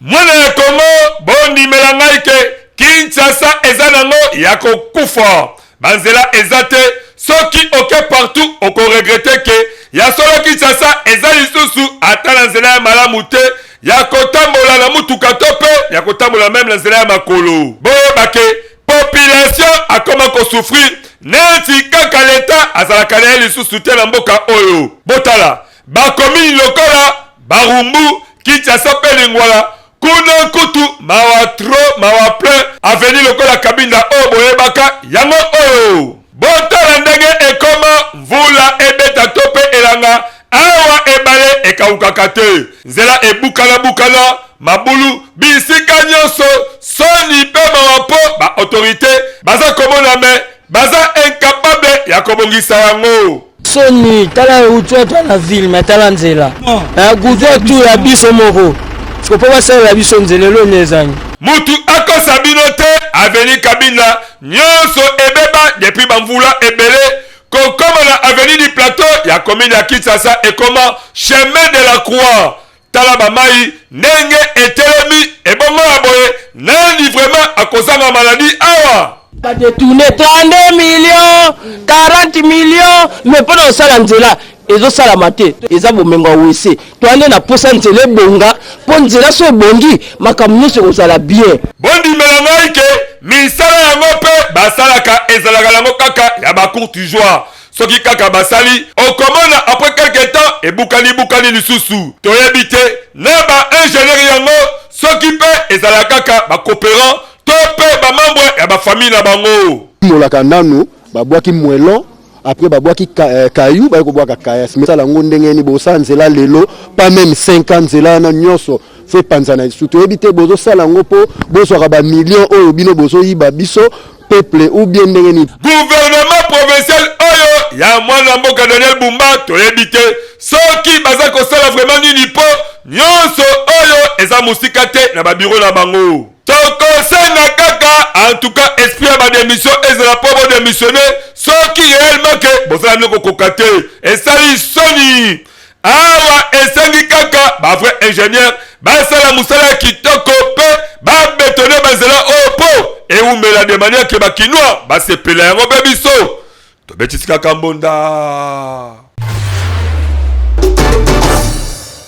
mwana ya kongo bondimela ngai ke kinshasa eza nango ya kokufa banzela eza te soki oke partout okoregrete ke ya solo kinshasa eza lisusu ata na nzela ya malamu te ya kotambola na motuka to mpe ya kotambola meme na nzela ya makolo boyeba ke population akoma kosouffrir neti kaka leta azalaka na ye lisusu te na mboka oyo botala bakomini lokola barumbu kinshasa mpe lingwala kuna kutu mawa tro mawa plein aveni lokola kabinda oyo boyebaka yango oyo botala ndenge ekoma mvula ebeta to mpe elanga awa ebale ekawukaka te nzela ebukana bukana mabulu bisika nyonso soni mpe mawa mpo baautorité baza komona me baza incapable ya kobongisa yango soni tala gudwa to na ville me tala nzela eh, gudwa tu ya biso moko siko mpo basalela biso nzela eloni ezangi mutu akosa bino te aveni kabila nyonso ebeba depuis bamvula ebele kokoma na avenue du plateau ya commune ya kinshasa ekoma chemin de la croix Tala bamai ndenge etelemi ebongo ya boye, nani vraiment akozanga maladie awa? ba detourne 32 millions 40 millions mais mpo na kosala nzela ezosalama te eza bomengo ya wese toya nde na posa nzela ebonga mpo nzela so ebongi makambo nyonso ekozala bien bondimela ngai ke misala yango mpe basalaka ezalaka yango kaka ya bacourtigeois soki kaka basali okomona apres quelque temps ebukani bukani lisusu toyebi te na ba ingenieur yango soki mpe ezala kaka ba cooperant to mpe ba membre ya ba famille na bango. Molaka nanu babwaki mwelon après babwaki eh, kayu baye kobwaka kayas mesala yango ndenge nini bosa nzela lelo pas meme 5 ans nzela wana nyonso se panzana lisusu toyebi te bozosala yango mpo bozwaka bamillion oyo bino bozoyiba biso peuple ou bien ndenge nini gouvernement provincial oyo ya mwana mboka daniel bumba toyebi te soki baza kosala vraiment nini mpo nyonso oyo eza mosika te na babiro na bango tokosenga kaka en tout cas esprit ya bademission ezala mpo bodemissionne soki réellement ke bozala bino kokoka te esali soni Awa esengi kaka ba vrai ingenieur basala musala ya kitoko pe ba betone ba nzela oyo po ewumela de manière que ba kinois basepela yango pe biso tobetisi kaka mbonda.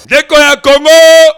Ndeko ya Congo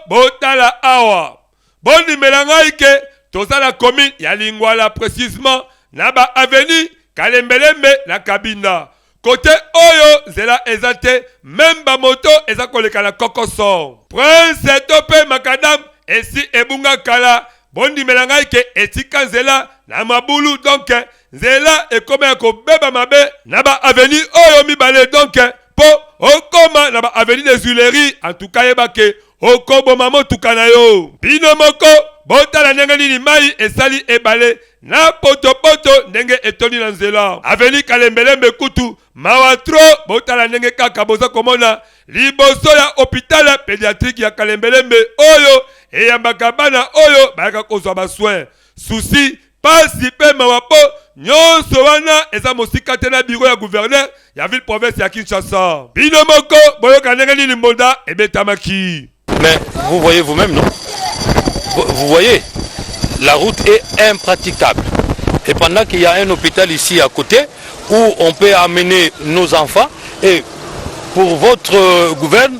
botala awa bondimela ngai ke toza na commune ya Lingwala precisement na ba avenue Kalembelembe na Kabinda cote oyo nzela eza te meme ba moto eza koleka na kokoson. Prince to pe macadam esi ebunga kala bondimela ngai ke etika nzela na mabulu donc nzela ekoma ya kobeba mabe na ba avenue oyo mibale donc po okoma na ba avenue des huileries en tout cas yeba ke okoboma motuka na yo bino moko botala ndenge nini mai esali ebale na potopoto ndenge etondi na nzela aveni kalembelembe kutu mawa tro botala ndenge kaka boza komona liboso ya hopitale pediatrike ya kalembelembe oyo eyambaka bana oyo bayaka kozwa baswin susi pasi mpe mawa mpo nyonso wana eza mosika te na biro ya guvernere ya ville province ya Kinshasa. Bino moko boyoka ndenge nini mbonda ebetamaki. Mais vous voyez vous-même non? Vous voyez la route est impraticable. Et pendant qu'il y a un hôpital ici à côté où on peut amener nos enfants et pour votre euh, gouverne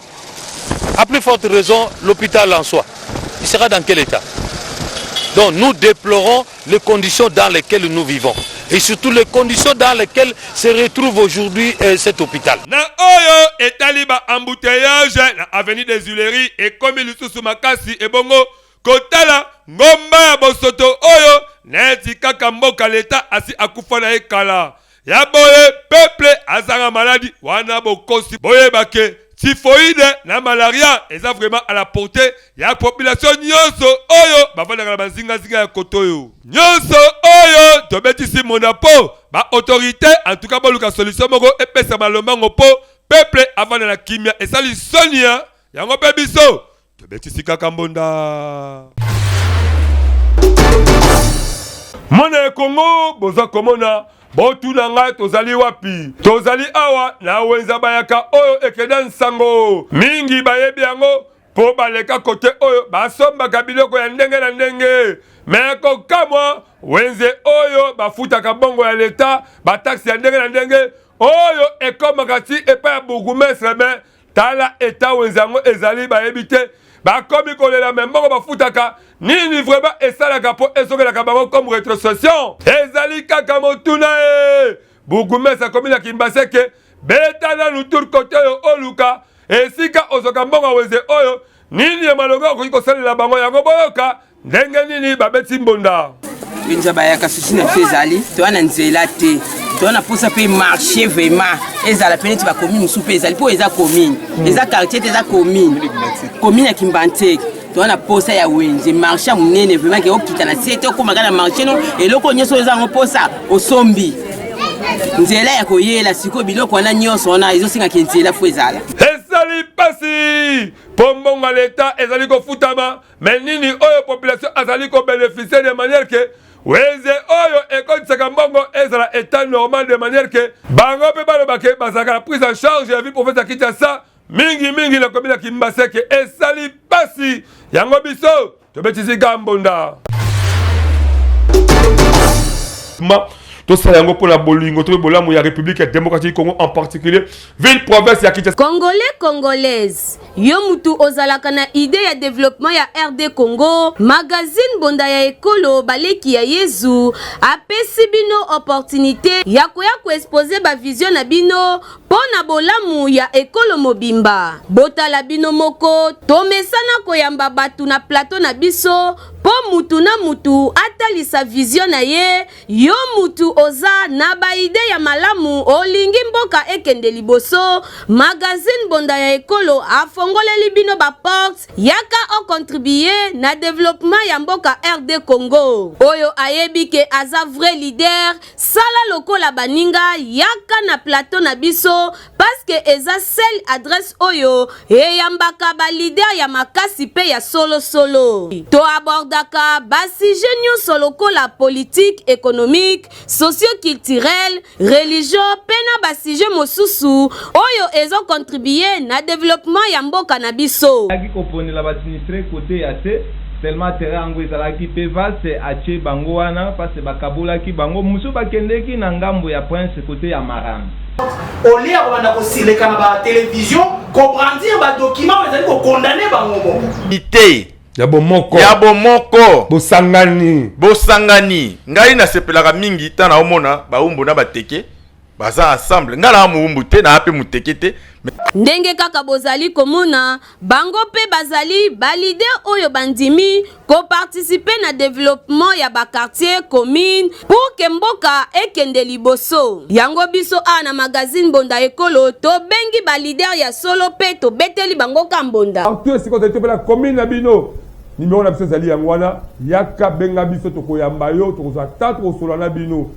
A plus forte raison l'hôpital en soi. Il sera dans quel état Donc nous déplorons les conditions dans lesquelles nous vivons et surtout les conditions dans lesquelles se retrouve aujourd'hui euh, cet hôpital. Na oyo etali ba embouteillage na avenue des Huileries ekomi lisusu makasi ebongo kotala ngomba ya bosoto oyo neti kaka mboka leta asi akufa na ye kala. ya boye peuple azanga maladi wana bokosi boyebake typhoïde na malaria eza vraiment à la portée ya population nyonso oyo bavandaka na bazingazinga ya koto oyo nyonso oyo tobetisi mona po ba autorité en tout cas boluka solution moko epesama lombango po peuple avanda na kimia esali sonia yango mpe biso tobetisi kaka mbonda mwana ya kongo boza komona botuna ngai tozali wapi tozali awa na wenza bayaka oyo ekeda nsango mingi bayebi yango mpo baleka kote oyo basombaka biloko ya ndenge na ndenge me kokamwa wenze oyo bafutaka bongo ya leta bataksi ya ndenge na ndenge oyo ekomaka ti epai ya bourgumestre me tala eta wenze yango ezali bayebi te bakomi kolela me moko bafutaka nini vraimen esalaka mpo ezokelaka bango comme retrocession ezali kaka motuna e bugumesi akomi na kimbaseke beta nanu tour kote oyo oluka esika ozoka mbongo wenze oyo nini ya malonga okoki kosalela bango yango boyoka ndenge nini babeti mbonda mpenza bayaka susi na biso ezali toya na nzela te toya na mposa mpe marché vraiment ezala mpe neti bakomine mosusu mpe ezali mpo eza komine hmm. eza quartier te eza komine komine ya kimbanteke toza na posa ya wenze marché ya monene vraimen ke okita na se te okomaka na marché no eloko nyonso oza yango posa osombi nzela ya koyela sikoyo biloko wana nyonso wana ezosengaka nzela fo ezala ezali mpasi mpo mbongo ya leta ezali kofutama me nini oyo population azali ko beneficie de manière ke wenze oyo ekotisaka mbongo ezala etat normal de manière ke bango mpe baloba ke bazalaka na prise en charge ya vie profete ya kinshasa mingi mingi na komi na kimbaseke esali mpasi yango biso tobetisi gambonda tosala yango mpo na bolingo to mpe bolamu ya république ya démocratique du congo en particulier ville province ya kinshasa congolais congolaise Yo mutu ozalaka na idee ya developpement ya RD Congo, magazine Bonda ya Ekolo baleki ya Yezu apesi bino opportunite ya koya ko exposer ba vision na bino mpo na bolamu ya ekolo mobimba. Botala bino moko, tomesana koyamba batu na plateau na biso mpo mutu na mutu atalisa vision na ye Yo mutu oza na ba idee ya malamu olingi mboka ekende liboso magazine bonda ya ekolo afongoleli bino ba porte yaka o contribue na developpement ya mboka RD Congo oyo ayebi ke aza vrai leader sala lokola baninga yaka na plateau na biso parce que eza seule adresse oyo eyambaka ba leader ya makasi pe ya solo solo. To abordaka ba sujet nyonso lokola politique, économique, socio-culturel, religion pe na ba sujet mosusu oyo ezo contribuer na développement ya mboka na biso. Azalaki koponela ba sinistres cote ya se, seulement terrain yango ezalaki pe vaste, atie bango wana parce que bakabolaki bango, mosusu bakendeki na ngambo ya Prince cote ya Marando. au lieu ya kobanda kosileka na ba télévision kobrandir ba document ezali kokondane bango moko ite ya bomoko ya bomoko bosangani bosangani ngai nasepelaka mingi ntango naomona baumbu na bateke baza ensemble ngai naa moumbu te naa mpe moteke te ndenge kaka bozali komona Bango mpe bazali ba leaders oyo bandimi ko participer na developpement ya ba quartiers, communes pour que mboka ekende liboso. Yango biso awa na magazine Bonda Ekolo tobengi ba leaders ya solo mpe tobeteli bango ka mbonda. Partout esika ozali to mpe na commune na bino, numero na biso ezali yango wana, yaka benga biso tokoyamba yo, tokozwa temps tokosolola na bino.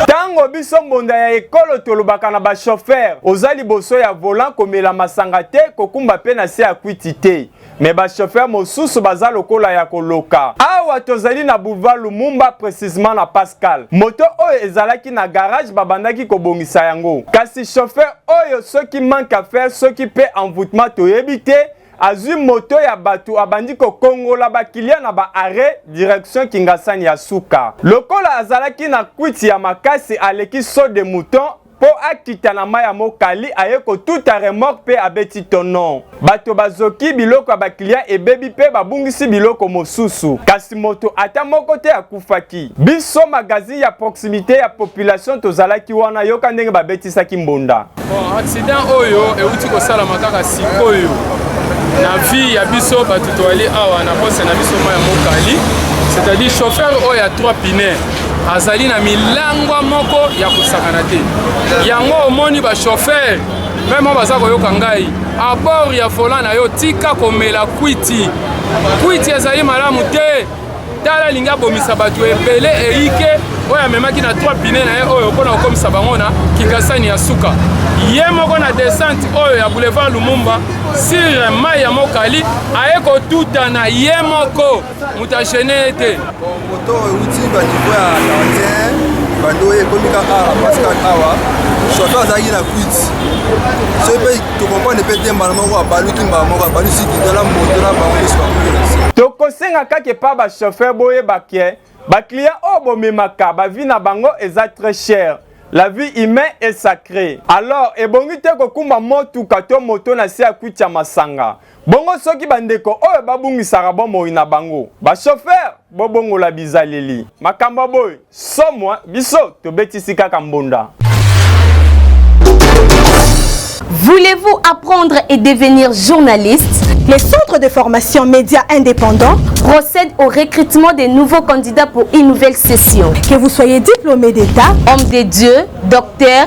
ntango biso mbonda ya ekolo tolobaka na bashofer oza liboso ya volant komela masanga te kokumba mpe na se ya kwiti te me bashofer mosusu baza lokola ya koloka awa tozali na boulevard lumumba precisement na pascal moto oyo ezalaki na garage babandaki kobongisa yango kasi shofer oyo soki manque à faire soki mpe envoûtement toyebi te azwi moto ya bato abandi kokongola bakiliya na ba arret direction kingasani ya suka lokola azalaki na kwiti ya makasi aleki saut de mouton mpo akita na mai ya mokali aye kotuta remorque mpe abeti tonon bato bazoki biloko ya bakiliya ebebi mpe babungisi biloko mosusu kasi moto ata moko te akufaki biso magazine ya proximite ya population tozalaki wana yoka ndenge babetisaki mbonda Bon, accident oyo euti kosalama kaka sikoyo na vie ya biso bato toali awa na poste na biso mai ya mokali c'est-à-dire chauffeur oyo ya 3 pine azali na milangwa moko ya kosakana te yango omoni bachauffeur meme baza koyoka ngai abord ya volant na yo tika komela kwiti kwiti ezali malamu te tala alingi abomisa bato ebele eyike oyo amemaki na 3 pine na ye oyo mpo na kokomisa bango na kingasani ya suka ye moko na descente oyo ya boulevard lumumba sire mai ya mokali aye kotutana ye moko moto agene ye te moto oyo euti banivo ya gardien bando oyo ekomi kaka awa pascal awa shoto azalaki na kwiti soki mpe tokompane mpe te mbala moko abaluki mbala moko abalusi kitala moto na bango nyonso bakoki na se tokosenga kaka epa bachauffeur boyeba ke baclient oyo bomemaka bavi na bango eza très cher la vie humain est sacré alors ebongi te kokumba motuka to moto na se ya kwiti ya masanga Bongo soki bandeko oyo babungisaka bomoi na bango, bashofere, bobongola bizaleli. Makambo ya boye, somo, eh? biso tobetisi kaka mbonda. Voulez-vous apprendre et devenir journaliste Les centres de formation médias indépendants procèdent au recrutement des nouveaux candidats pour une nouvelle session. Que vous soyez diplômé d'État, homme de Dieu, docteur,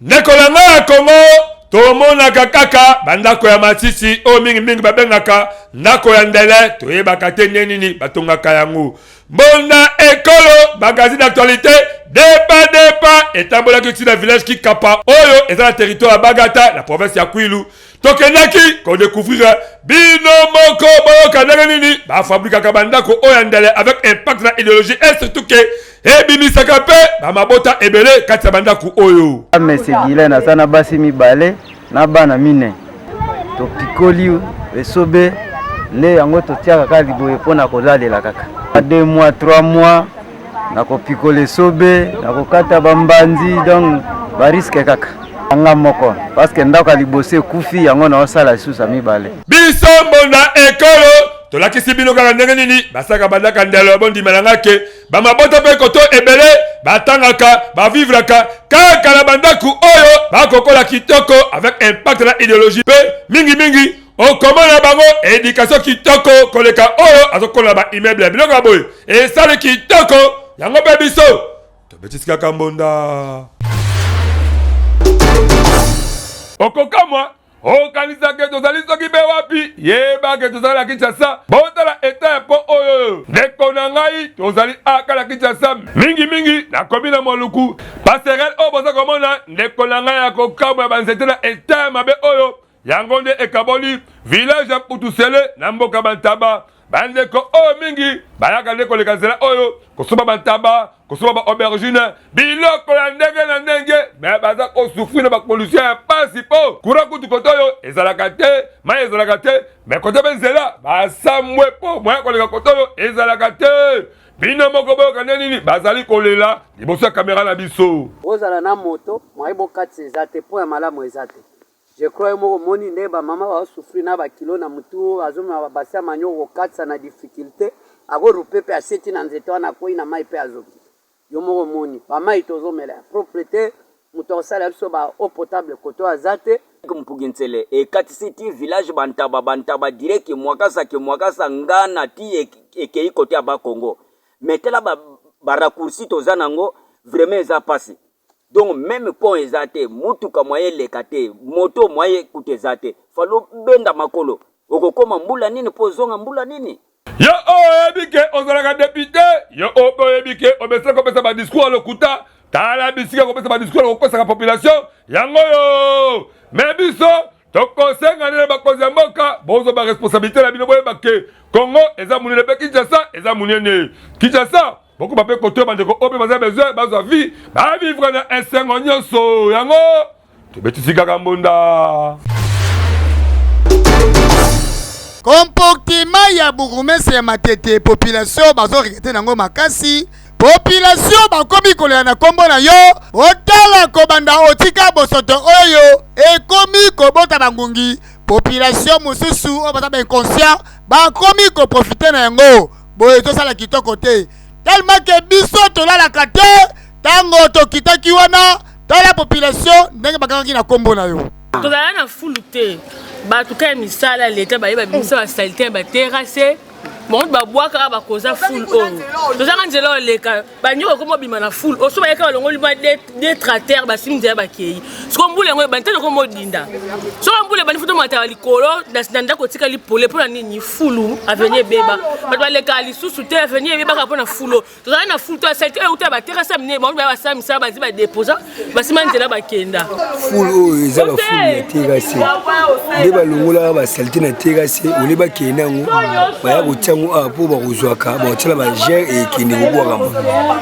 Ndeko na ngai ya Congo, tomonaka kaka bandako ya masisi oyo mingimingi babengaka ndako ya ndele, toyebaka te nde nini batongaka yango. Mbonda Ekolo, magazine d'actualité, depa depa etambolaki ntina village Kikapa oyo eza na territoire ya Bagata na province ya Kwilu. tokendaki kodekouvrire bino moko boyoka ndenge nini bafabrikaka bandako oyo ya ndele avec impact na ideologie e surtout ke ebimisaka mpe bamabota ebele kati ya bandako oyo mese gilen aza na basi mibale na bana mine topikoli esobe nde yango totiaka kaka liboye mpo na kolalela kaka 2 mois 3 mois na kopikola esobe na kokata bambanzi donc bariske kaka anga moko parceke ndako ya liboso ekufi yango naosala lisusu ya mibale biso mbonda ekolo tolakisi bino kaka ndenge nini basaka bandaka ndelo ya bondimela nga ke bamabota mpe koto ebele batangaka bavivraka kaka na bandako oyo bakokola kitoko avec impact na ideologie mpe mingimingi okomona bango edikatio kitoko koleka oyo azokola ba immeuble biloko ya boye esali kitoko yango mpe biso tobetisi kaka mbonda okokamwa okanisaka tozali soki mpe wapi yebake tozali na kinshasa botala eta ya mpo oyo ndeko na ngai tozali aka na kinshasa mingimingi nakomi na moluku paserel oyo boza komona ndeko na ngai ya kokamwa ya banzete na eta ya mabe oyo yango nde ekaboli village ya Putusele na mboka Bantaba. Bandeko oyo oh, mingi bayaka nde koleka nzela oyo oh, kosoba bantaba kosoba ba aubergine biloko ya ndenge na ndenge me baza kosufri na bakondition ya mpasi mpo kura kutu kote oyo ezalaka te mai ezalaka te me kote mpe nzela basambwe mpo moya koleka kote oyo ezalaka te bino moko boyoka nde nini bazali kolela liboso ya kamera na biso ozala na moto moye bokatisa eza te mpo ya malamu eza te Je crois yo moko omoni ndenge ba maman bazo souffrir na ba kilos na mutu, azo mema ba base ya manioc ko katisa na difficulte, ako rupe pe aseti na nzete wana akweyi na mayi pe azoki. Yo moko omoni ba mayi tozo mela ya propre te, mutu ako salela biso ba eau potable kote oyo aza te. Mpugi Nsele ekatisi ti village ba ntaba, ba ntaba dirait que mwakasa que mwakasa, ngana ti ekeyi kote ya bas congo. Mais tala ba raccourci toza nango vraiment eza pasi. donc meme pont eza te mutuka mwaye eleka te moto mwaye kutu eza te fali obenda makolo okokoma mbula nini mpo ozonga mbula nini Yo oyebi ke ozalaka depute, yo ope oyebi ke omesana kopesa ba discours ya lokuta, tala bisika kopesa ba discours ya kokosaka population yango oyo. Mais biso tokosenga nde na bakonzi ya mboka bozwa ba responsabilite na bino boyeba ke Congo eza munene pe Kinshasa eza munene. Kinshasa bokoba mpe kotoya bandeko oyo mpe baza besoin bazwa vie bavivre na esengo nyonso yango tobetisi kaka mbunda komportima ya burgumestre ya matete population bazorekete nango makasi population bakomi kolela na nkombo na yo otala kobanda otika bosoto oyo ekomi kobota bangungi population mosusu oyo baza bainconscient bakomi koprofite na yango boye ezosala kitoko te tellement ke biso tolalaka te ntango tokitaki wana tala population ndenge bakangaki na nkombo na yo tozala na fulu te bato ka ya misala ya leta baye babimisa basalite ya baterase bango babwakaka bakoza fulu oyo tozanga nzela oleka banyoka ekoma obima na fule oso bayaka balongoli ba detrater basimi nzela bakei soko mbula yango ebandi tani okoma odinda soko mbula ebandi foto mataka likolo na ndako etikali pole mpo na nini fulu aveni ebeba bato balekaka lisusu te aveni ebebaka mpo na fulo tozalaki na fulu to asalite euta baterasa minene bango baya basala misala bazi badeposa basima nzela bakenda ful oyo eza baful ya terase nde balongolaka basalite na terase ole bakende yango baya kotia yango awa mpo bakozwaka bakotiala bagere ekende kobwakama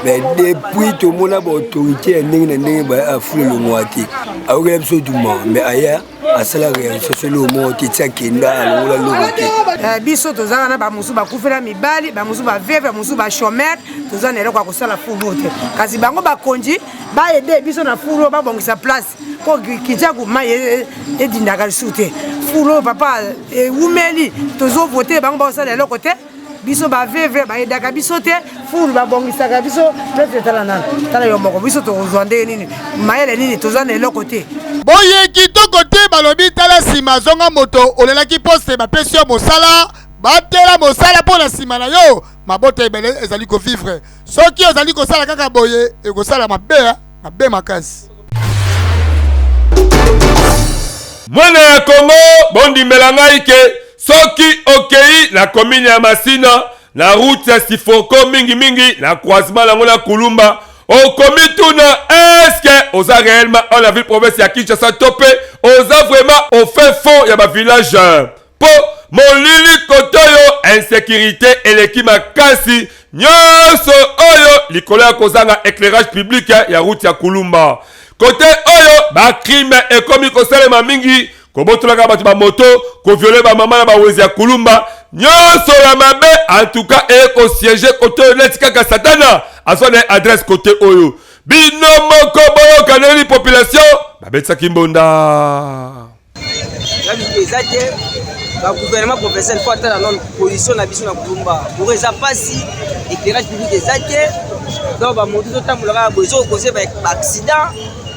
me depuis tomona baautorité ya ndenge na ndenge baya aful elongwaka te ayokela biso duma me aya asalaka ya lisusu eloko moko te ti akenda alongola eloko te eh, biso toza wana bamosusu bakufela mibali bamosusu baveve bamosusu bachomere toza na eloko ya kosala furu te kasi bango bakonzi baede biso na furu babongisa place mpo kijaku mai e, e, edindaka lisusu te furu papa ewumeli tozovote bango bakosala eloko te biso baveve bayedaka biso te fulu babongisaka biso pete tala nana tala yo moko biso tokozwa ndenge nini mayele nini toza na eloko te boye kitoko te balobi tala nsima azonga moto olelaki poste bapesi yo mosala batela mosala mpo na nsima na yo mabota ebele ezali kovivre soki ozali kosala kaka boye ekosala mabe eh, mabe makasi mwana ya kongo bondimela ngai ke Soki okei na komine ya Masina na route ya Sifoko mingi mingi na croisement nango na Kulumba okomituna eske oza réellement en la ville province ya Kinshasa to pe oza vraiment au fin fond ya ba village po molili kotoyo insecurite eleki makasi nyonso oyo likolo ya kozanga éclairage public ya route ya Kulumba kote oyo ba crime ekomi kosalema mingi kobotolaka bato bamoto koviole bamama na bawenzi ya kulumba nyonso ya mabe antuka ekosiege kote oyo neti kaka satana azwa na adresse kote oyo bino moko boyokaneli population babetisaki mbonda eza te bagouvernement professionnel mpo ata na none position na biso na kulumba bourg eza mpasi éclairage public eza te donc bamoto ezotambola kaka boye ezokokose baaccident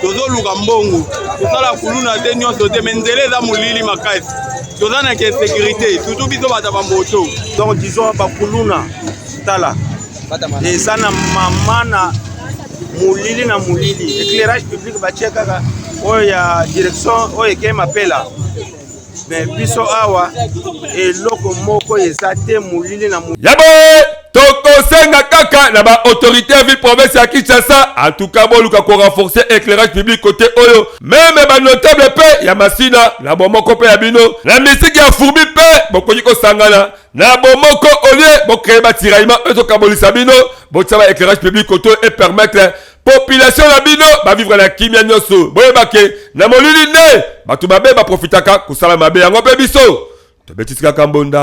tozoluka mbongo kosala kuluna te nyonso te me nzela eza molili makasi toza na insécurité surtout biso bata bamoto donc disons bakuluna tala eza na mama na molili na molili éclairage public batie kaka oyo ya direction oyo ekei mapela mais biso awa eloko moko eza te molili na yabo tokosenga kaka na baautorité ya ville province ya kinshasa en tout cas boluka korenforce éclairage public côté oyo meme banotable mpe ya masina na bomoko mpe ya bino na misiki ya fourbi mpe bokoki kosangana na bomoko olie bokreye batiraillement oyo tokabolisa bino botia ba éclairage public côté oyo epermettre population na bino bavivre na kimia nyonso boyeba ke na molili nde bato mabe baprofitaka kosala mabe yango mpe biso tobetisi kaka mbonda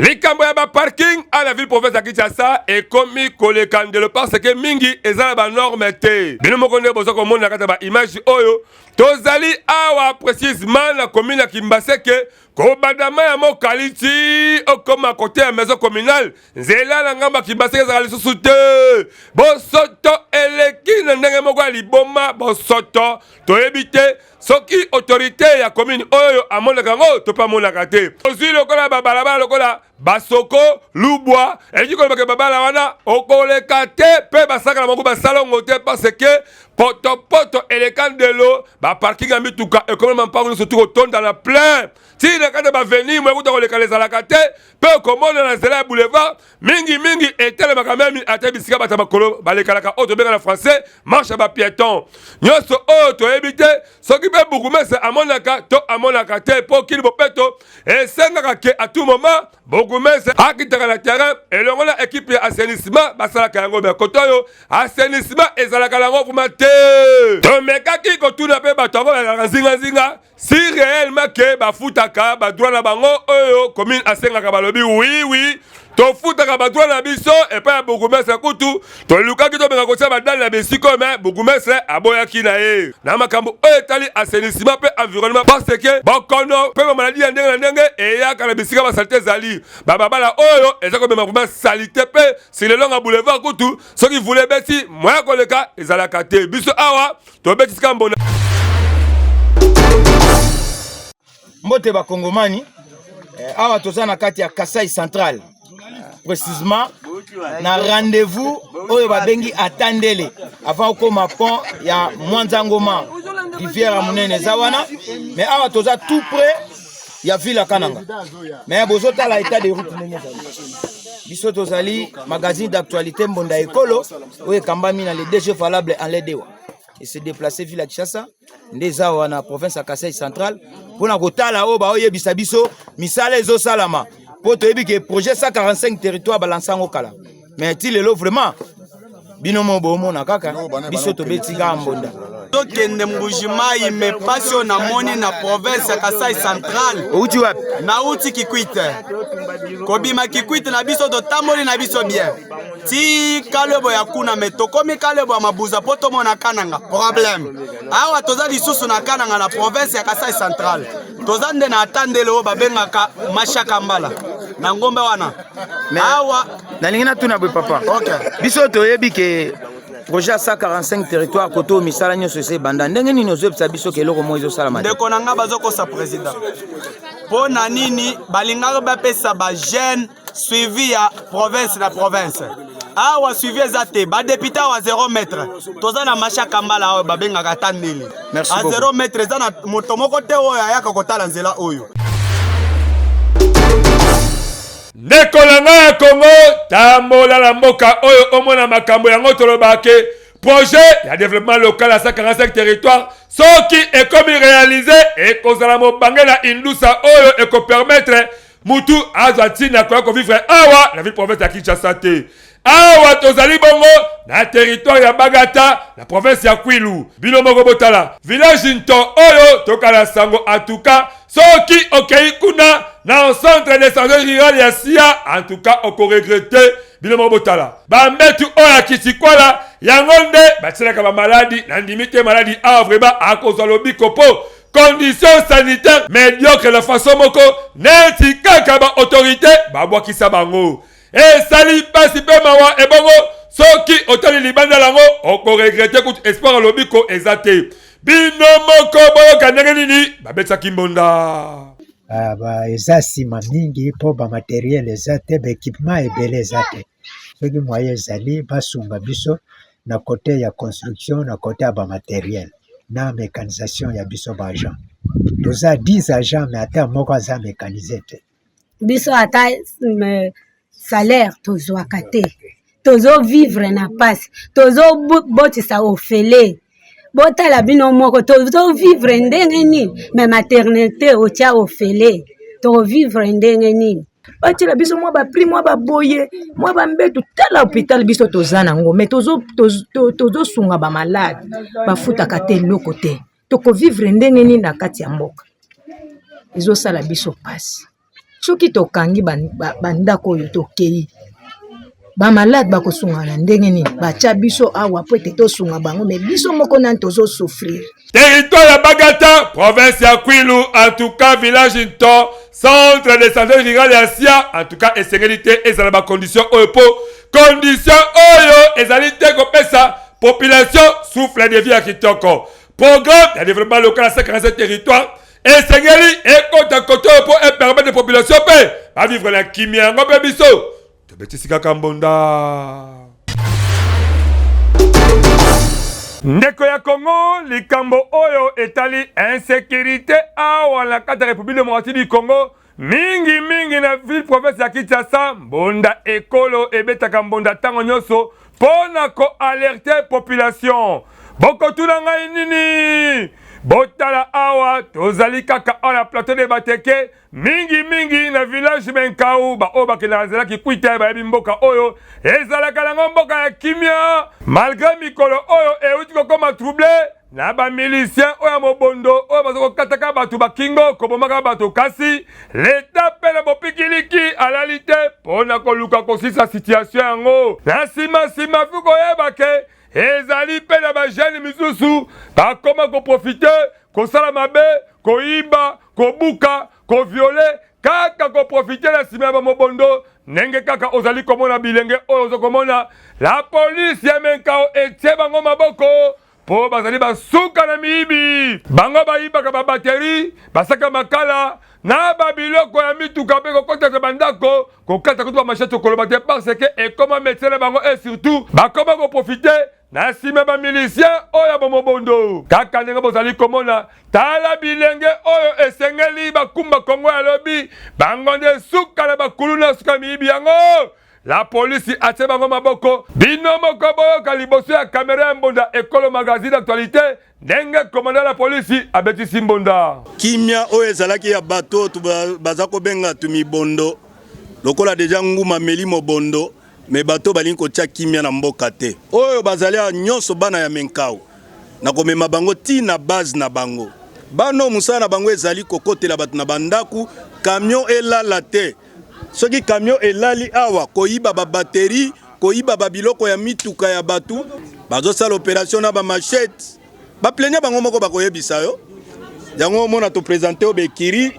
likambo ya baparking a la ville province ya kinshasa ekomi koleka ndelo parce ke mingi eza na banorme te bino moko nde boza komona na kati ya baimage oyo tozali awa precisement na komine ya kimbaseke kobadama ya mokali ti okoma kote ya maison communale nzela na ngambo ya kibaseke ezalaka lisusu te bosoto eleki na ndenge moko ya liboma bosoto toyebi te soki autorité ya commune oyo amonaka yango to mpe amonaka te ozwi lokola babalabala lokola basoko lubwa elingi koloba ke babala wana okoleka te mpe basakana bango basalongo te parce que potopoto eleka ndelo baparking ya mituka ekomela mampango nyonso ti kotonda na plein tii na kati ya baveni moya kuta kolekana ezalaka te mpe okomona na nzela ya boulevard mingimingi etelemaka memi ata bisika bato ya makolo balekanaka oyo tobenga na français marche ya bapiéton nyonso oyo toyebi te soki mpe bukumese amonaka to amonaka te mpo kini bopeto esengaka ke à tout moment bourgmestre akitaka na terrain elongo na ekipe ya assainissement basalaka yango me koto oyo assainissement ezalaka nango vraimen te tomekaki kotuna mpe bato yango bazalaka nzinganzinga si réellement ke bafutaka badroit na bango oyo commune asengaka balobi wiwi oui, oui. tofutaka badwa na biso epai ya bourgmestre kutu tolukaki tobenga kotia badale na bisika oyo me bourgmestre aboyaki na ye na makambo oyo etali asenisima mpe environnement paseke bokono mpe bamaladi ya ndenge na ndenge eyaka na bisika basalite ezali bababala oyo eza komema vrema salite mpe silelonga boulevard kutu soki vula ebeti moya koleka ezalaka te biso awa tobeti sika mbona mbote bakongomani eh, awa toza na kati ya kasai central précisement na rendez-vous oyo babengi atandele avant okoma pont ya mwanza ngoma rivière ya monene eza wana mais awa toza tout près ya ville ya kananga mais bozotala état de route ndenge ezali biso tozali magazine d'actualité mbonda ekolo oyo ekambami na le dg valable en ledewa et se déplacer ville ya kinshasa nde eza awa na province ya kasai central mpo na kotala oyo baoyebisa biso misala ezosalama mpo toyebi ke projet 145 territoire balansa yango kala mais ti lelo vraiment bino mo bomona kaka biso tobeti kaka mbonda tokende mbuji mai me mpasi oyo namoni na province ya kasai central outi wapi nauti kikwite kobima kikwite na biso totamboli na biso bien ti kalebo ya kuna me tokomi kalebo ya mabuza mpo tomona kananga problème awa toza lisusu na kananga na province ya kasai central toza nde na ata ndele oyo babengaka mashaka mbala na ngombe wana awa nalingi natuna boye papa okay. biso toyebi ke projet ya 145 territoire kote oyo misala nyonso esi ebanda ndenge nini ozoyebisa biso ke eloko moko ezosala mate ndeko na ngai bazokosa président mpo na nini balingaka bapesa bajeune suivi ya province na province awa suivi eza te badepute awa 0 mètre toza na masha kambala oyo babengaka ata ndele a 0 mètre eza na moto moko te oyo ayaka kotala nzela oyo ndeko na ngai ya kongo tambola na mboka oyo omona makambo yango tolobake projet ya développement local ya 145 territoire soki ekomi réalise ekozala mobange na indusa oyo ekopermettre mutu azwa ntina koya kovivre awa na ville province ya kinshasa te awa tozali bongo na teritware ya bagata na province ya kwilu bino moko botala village nto oyo tokala sango atuka soki okei kuna na centre de sange rural ya sia antuka okoregrete bino moko botala bambetu oyo ya kisikwala yango nde batyelaka bamaladi nandimi te maladi awa vrema akozwa lobiko mpo condition sanitaire mediocre na façon moko neti kaka ba autorité babwakisa bango esali mpasi mpe mawa ebongo soki otali libanda lango okoregrete kutu espoir alobi ko eza te bino moko boyoka ndenge nini babetsaki mbonda ah, ba eza nsima mingi mpo bamateriel eza te baekipement ebele eza te soki moye ezali basunga biso na cote ya construction na cote ya ba materiel na mecanisation ya biso ba agent toza 10 agent me ata moko aza mecanise te biso ata euh, salaire tozwaka te tozovivre na mpasi tozobotisa ofele botala bino moko tozovivre ndenge nini me maternité otya ofele tovivre ndenge nini batyela biso mwa bapri mwa baboye mwa bambetu tala hôpital biso toza nango mai tozosunga bamalade bafutaka te eloko te tokovivre ndenge nini na kati ya mboka ezosala biso mpasi soki tokangi bandako oyo tokei ba malade bakosunga na ndenge nini batya biso awa mpo ete tosunga bango me biso moko nani tozosouffrir territoire ya bagata province ya kwilu en tout cas village nto centre de santé rural ya sia en tout cas esengeli te ezala bacondition oyo mpo condition oyo ezali te kopesa population souffle de vie ya kitoko programme ya développement local ya 57 territoire esengeli ekota koto oyo mpo epermettre population mpe bavivre na kimia yango mpe biso Tobetisi kaka mbonda. Ndeko ya Congo, likambo oyo etali insécurité awa na kati ya République démocratique du Congo mingi mingi na ville province ya Kinshasa, mbonda ekolo ebetaka mbonda ntango nyonso mpo na koalerte population. Bokotuna ngai nini? Botala awa, tozali kaka awa na plateau de Bateke mingi mingi na village Menkau baoyo bakendaka nzela Kikwita bayebi mboka oyo ezalaka nango mboka ya kimia malgre mikolo oyo euti kokoma trouble na bamilisien oyo ya mobondo oyo baza kokataka bato bakingo kobomaka bato kasi leta mpe na bopikiliki alali te mpo na koluka kosisa situatio yango na nsima nsima fi koyeba ke ezali mpe na bajene misusu bakoma koprofite kosala mabe koyiba kobuka koviole kaka koprofite na nsima ya bamobondo ndenge kaka ozali komona bilenge oyo ozo komona la polisi ya menkao etie bango maboko mpo bazali basuka na miyibi bango bayibaka babateri basaka makala na babiloko ya mituka mpe kokotaka bandako kokata kutu bamashete okoloba te parce ke ekoma metie na bango e surtout bakoma koprofite na nsima bamilisien oyo ya bomobondo kaka ndenge bozali komona tala bilenge oyo esengeli bakumba kongo ya lobi bango nde suka na bakuluna suka miyibi yango la polisi atie bango maboko bino moko boyoka liboso ya kamera ya mbonda ekolo magazine actualité ndenge komanda la polisi abetisi mbonda. Kimia oyo ezalaki ya bato oyo baza kobenga tumibondo lokola deja nguma meli mobondo me bato balingi kotya kimia na mboka te oyo bazali awa nyonso bana ya menkau na komema bango ti na base na bango bano mosala na bango ezali kokotela bato na bandako kamio elala te Soki camion elali awa koyiba ba batterie, koyiba ba biloko ya mituka ya batu, bazosala operation na ba machettes. Ba plaignants bango moko bakoyebisa yo. Yango omona to presenter yo bekiri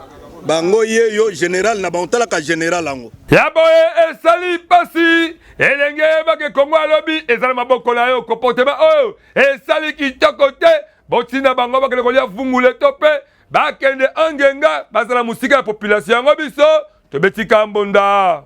bango ye yo general na bango talaka general yango ya boye esali pasi elenge yebake kongo alobi ezali maboko na yo comportement oyo esali kitoko te botinda bango bakende kolia vungule to mpe bakende angenga bazala mosika ya population yango biso tobeti kambonda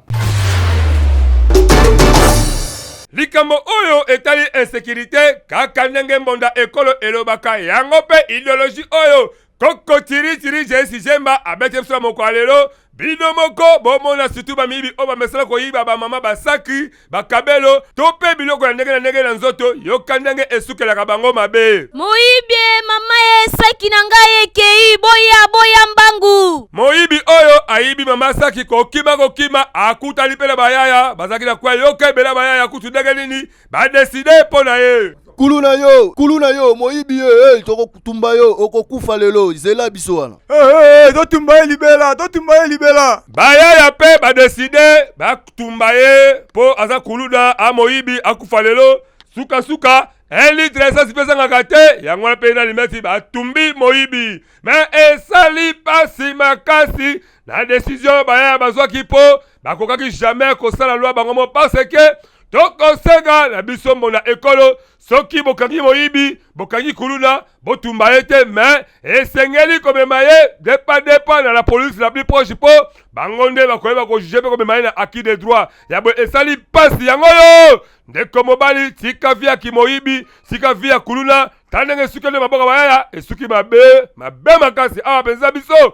likambo oyo etali insekirite kaka ndenge mbonda ekolo elobaka yango mpe ideoloji oyo koko tiritiri jesi jemba abeti biso na mokolo ya lelo bino moko bomona situ bamiyibi oyo bamesana koyiba bamama basaki bakabelo to mpe biloko ya ndenge na ndenge na nzoto yoka ndenge esukelaka bango mabe moyibi mama ye saki na ngai ekei boya boya mbangu moyibi oyo ayibi mama saki kokima kokima akutani mpe na bayaya bazalaki na kwa yoka ebela bayaya kutu ndenge nini Ba décider mpo na ye. Kulu na yo, kulu na yo, moyibi ye, hey, tokotumba yo, okokufa lelo, zela biso wana. Hey, eh, eh, hey, eh, totumba ye libela, totumba ye libela. Bayaya mpe badeside batumba ye mpo aza kuluna a moyibi akufa lelo sukasuka un litre ya esasi mpe ezangaka te yango wana mpe na limeti batumbi moyibi me esali mpasi makasi na desizio oyo bayaya bazwaki mpo bakokaki jamai kosala lwa bango mo parce ke tokosenga na biso mbona ekolo soki bokangi moyibi bokangi kuluna botumba ye te me esengeli komema ye depa depa na la polise la plus proche mpo bango nde bakoyeba kojuge mpe komema ye na acquis de droit ya boye esali mpasi yango oyo ndeko mobali tika vi ya kimoyibi tika vi ya kuluna ta ndenge esuki nde maboko mayaya esuki mabe mabe makasi awa mpenza biso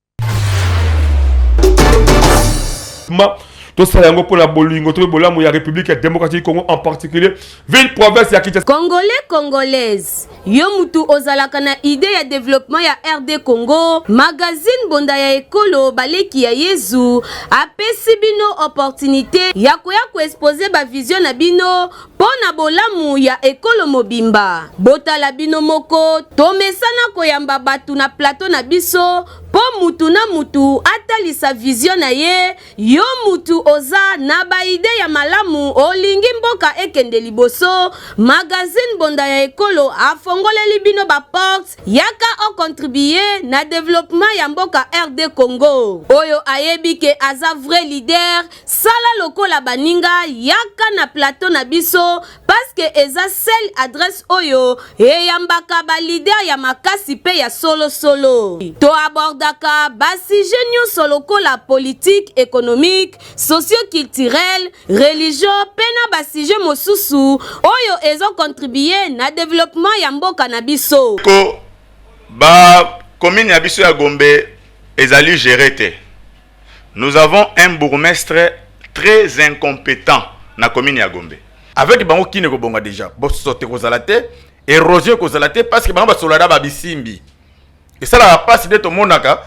tosala yango mpo na bolingo to mpe bolamu ya république ya démocratique congo en particulier ville province ya kinshasa congolais congolaise yo mutu ozalaka na idée ya développement ya rd congo magazine bonda ya ekolo baleki ya yezu apesi bino opportunité ya koya koexpose bavision na bino Mpo na bolamu ya ekolo mobimba, botala bino moko, tomesana koyamba bato na plateau na biso mpo mutu na mutu atalisa vision na ye, yo mutu oza na ba idee ya malamu olingi mboka ekende liboso, magazine bonda ya ekolo afongoleli bino ba portes, yaka o contribuer na developpement ya mboka RD Congo. Oyo ayebi ke aza vrai leader, Sala lokola baninga yaka na plateau na biso paske eza sel adresse oyo eyambaka ba leader ya makasi pe ya solo solo. To abordaka ba sujet nionso lokola politique, economique, socio-culturel, religion pe na ba sujet mosusu oyo ezo contribuer na developpement ya mboka na biso. Ko ba commune ya biso ya Gombe ezali gerer te. Nous avons un bourgmestre très incompetent na commune ya Gombe. Avec bango kin ekobonga deja, bosoto ekozala te, erosion ekozala te parce que bango basolada babisimbi. Esalaka pasi nde tomonaka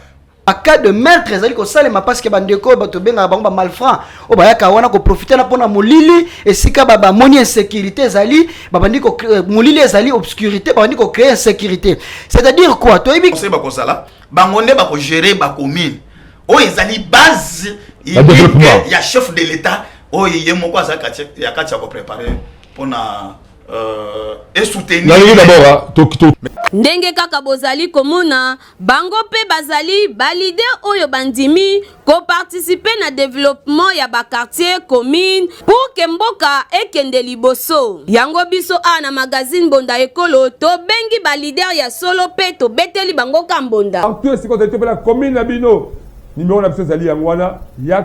cas de meurtre ezali kosalema parce que bandeko oyo bato obengaka bango bamalfranc oyo bayaka wana koprofite na mpona molili esika bamoni insécurité ezali babandi euh, molili ezali obscurité babandi kocree insécurité c'est-à-dire quoi toyebi bakozala bango nde bako gérer ba commune oyo ezali base unique ya chef de l'état oyo ye moko aza ya kati ya ko préparer mpona euh, esoutenir ndenge kaka bozali komona bango mpe bazali balide oyo bandimi ko participer na developpement ya ba quartier commune pour que mboka ekende liboso yango biso a na magazine bonda ekolo to bengi ba leader ya solo pe to beteli bango ka mbonda partout esika ozali to pe na commune na bino numero na biso ezali yango wana yak